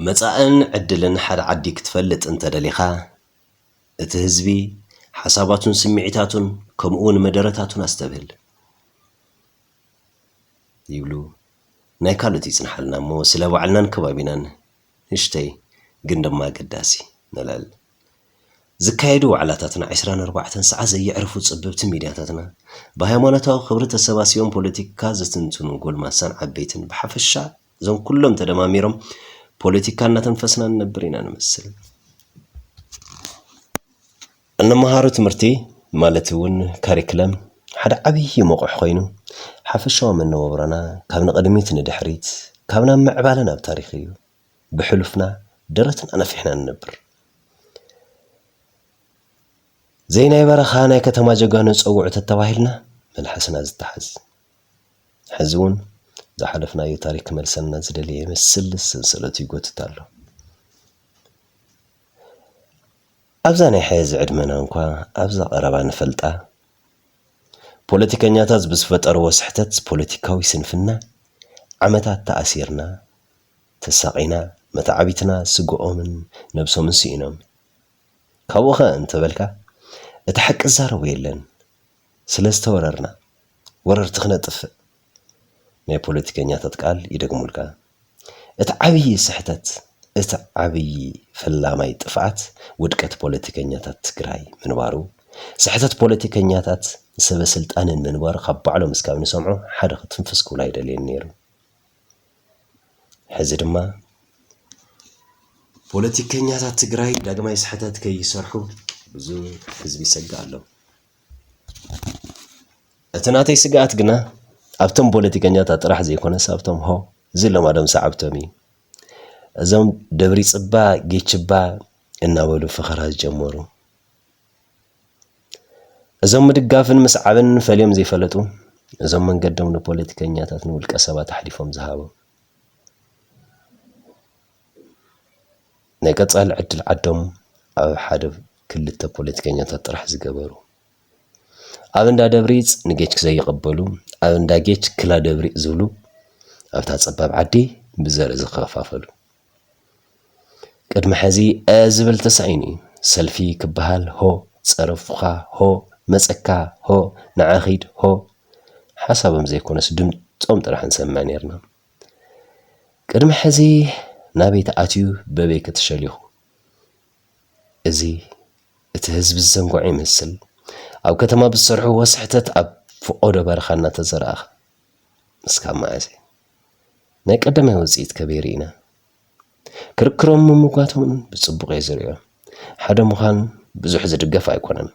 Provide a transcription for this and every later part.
መጻእን ዕድልን ሓደ ዓዲ ክትፈልጥ እንተ ደሊኻ፣ እቲ ህዝቢ፣ ሓሳባቱን ስምዒታቱን ከምኡውን መደረታቱን ኣስተብህል። ይብሉ ናይ ካልኦት ይጽንሓልና እሞ ስለ ባዕልናን ከባቢናን ንእሽተይ ግን ድማ ኣገዳሲ ነልዕል። ዝካየዱ ዋዕላታትና ዕስራን ኣርባዕተን ሰዓት ዘየዕርፉ ጸበብቲ ሚድያታትና፣ ብሃይማኖታዊ ክብሪ ተሰባሲቦም ፖለቲካ ዝትንትኑ ጎልማሳን ዓበይትን ብሓፈሻ እዞም ኩሎም ተደማሚሮም ፖለቲካ እናተንፈስና ንነብር ኢና ንመስል። እንመሃሮ ትምህርቲ ማለት እውን ካሪክለም ሓደ ዓብዪ መቑሕ ኮይኑ ሓፈሻዊ መነባብሮና ካብ ንቕድሚት ንድሕሪት ካብ ናብ ምዕባለ ናብ ታሪኽ እዩ። ብሕሉፍና ደረትና ነፊሕና ንነብር። ዘይ ናይ በረኻ ናይ ከተማ ጀጋኑ ጸውዑ ተተባሂልና መልሓስና ዝተሓዝ ሕዚ እውን ዝሓለፍናዮ ታሪክ ክመልሰና ዝደለየ ይመስል ሰንሰለቱ ይጎትት ኣሎ። ኣብዛ ናይ ሕዚ ዕድመና እንኳ ኣብዛ ቀረባ ንፈልጣ ፖለቲከኛታት ብዝፈጠርዎ ስሕተት ፖለቲካዊ ስንፍና ዓመታት ተኣሲርና ተሳቒና መተዓቢትና ስግኦምን ነብሶምን ስኢኖም ካብኡኸ እንተበልካ እቲ ሓቂ ዝዛረቦ የለን ስለዝተወረርና ወረርቲ ክነጥፍእ ናይ ፖለቲከኛታት ቃል ይደግሙልካ እቲ ዓብዪ ስሕተት እቲ ዓብዪ ፈላማይ ጥፍኣት ውድቀት ፖለቲከኛታት ትግራይ ምንባሩ ስሕተት ፖለቲከኛታት ሰበስልጣንን ምንባሩ ካብ ባዕሎም እስካብ ንሰምዖ ሓደ ክትንፍስ ክብሉ ኣይደልዩን ነይሩ ሕዚ ድማ ፖለቲከኛታት ትግራይ ዳግማይ ስሕተት ከይሰርሑ ብዙ ህዝቢ ይሰግእ ኣሎ። እቲ ናተይ ስግኣት ግና ኣብቶም ፖለቲከኛታት ጥራሕ ዘይኮነስ ኣብቶም ሆ ዝለማዶም ሰዓብቶም እዩ። እዞም ደብሪፅባ ጌችባ እናበሉ ፈኸራ ዝጀመሩ እዞም ምድጋፍን ምስዓብን ፈልዮም ዘይፈለጡ፣ እዞም መንገዶም ንፖለቲከኛታት ንውልቀ ሰባት ኣሕሊፎም ዝሃቡ፣ ናይ ቀጻሊ ዕድል ዓዶም ኣብ ሓደ ክልተ ፖለቲከኛታት ጥራሕ ዝገበሩ፣ ኣብ እንዳ ደብሪጽ ንጌች ዘይቕበሉ፣ ኣብ እንዳ ጌች ክላ ደብሪጽ ዝብሉ፣ ኣብታ ጸባብ ዓዲ ብዘርኢ ዝኸፋፈሉ፣ ቅድሚ ሕዚ ኧ ዝብል ተሳኢኑ እዩ። ሰልፊ ክበሃል ሆ፣ ጸርፍካ ሆ፣ መጸካ ሆ፣ ንዓ ኺድ ሆ። ሓሳቦም ዘይኮነስ ድምጾም ጥራሕ ንሰምዕ ኔርና። ቅድሚ ሕዚ ናበይ ተኣትዩ በበይ ከ ተሸሊኹ? እዚ እቲ ህዝቢ ዝዘንግዖ ይመስል። ኣብ ከተማ ብዝሰርሕዎ ስሕተት ኣብ ፍቖዶ በረኻ እናተዘራእኻ እስካብ መዓዘ? ናይ ቀዳማይ ውጽኢት ከበይ ርኢና? ክርክሮምን ምምጓቶምን ብጽቡቕ እየ ዝርእዮ። ሓደ ምዃን ብዙሕ ዝድገፍ ኣይኮነን።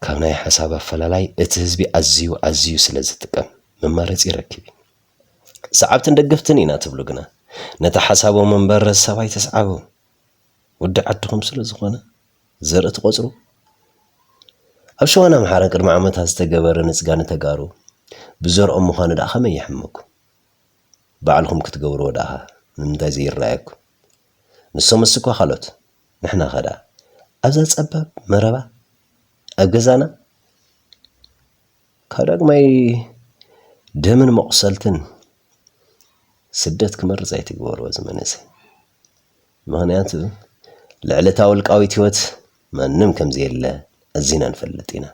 ካብ ናይ ሓሳብ ኣፈላላይ እቲ ህዝቢ ኣዝዩ ኣዝዩ ስለ ዝጥቀም መማረፂ ይረክብ እዩ። ሰዓብትን ደገፍትን ኢና ትብሉ ግና ነቲ ሓሳቦም እምበር ሰብ ኣይተስዓቡ። ወዲ ዓድኹም ስለዝኾነ ዘርኢ ትቖፅሩ? ኣብ ሸዋን ኣምሓራን ቅድሚ ዓመታት ዝተገበረ ንፅጋ ንተጋሩ ብዘርኦም ምዃኑ ድኣ ከመይ የሕምመኩም? ባዕልኹም ክትገብርዎ ድኣ ንምንታይ ዘይረኣየኩም? ንሶምስ እኳ ካልኦት ንሕናኸ ድኣ ኣብዛ ፀባብ መረባ ኣብ ገዛና ካብ ዳግማይ ደምን መቑሰልትን ስደት ክመርፅ ኣይትግበርዎ እዚ መንእሰይ ምኽንያቱ ልዕሊ እታ ውልቃዊት ህይወት ማንም ከም ዘየለ ኣዚና ንፈልጥ ኢና።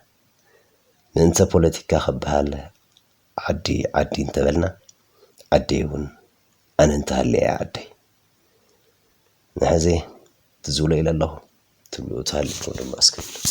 ምእንተ ፖለቲካ ክበሃል ዓዲ ዓዲ እንተበልና ዓደይ እውን ኣነ እንተሃልየ እያ ዓደይ። ንሕዚ ትዝ ብሎ ኢለ ኣለኹ። ትብሉ እታ ኣሊኩም ድማ እስኪ ግለጹ።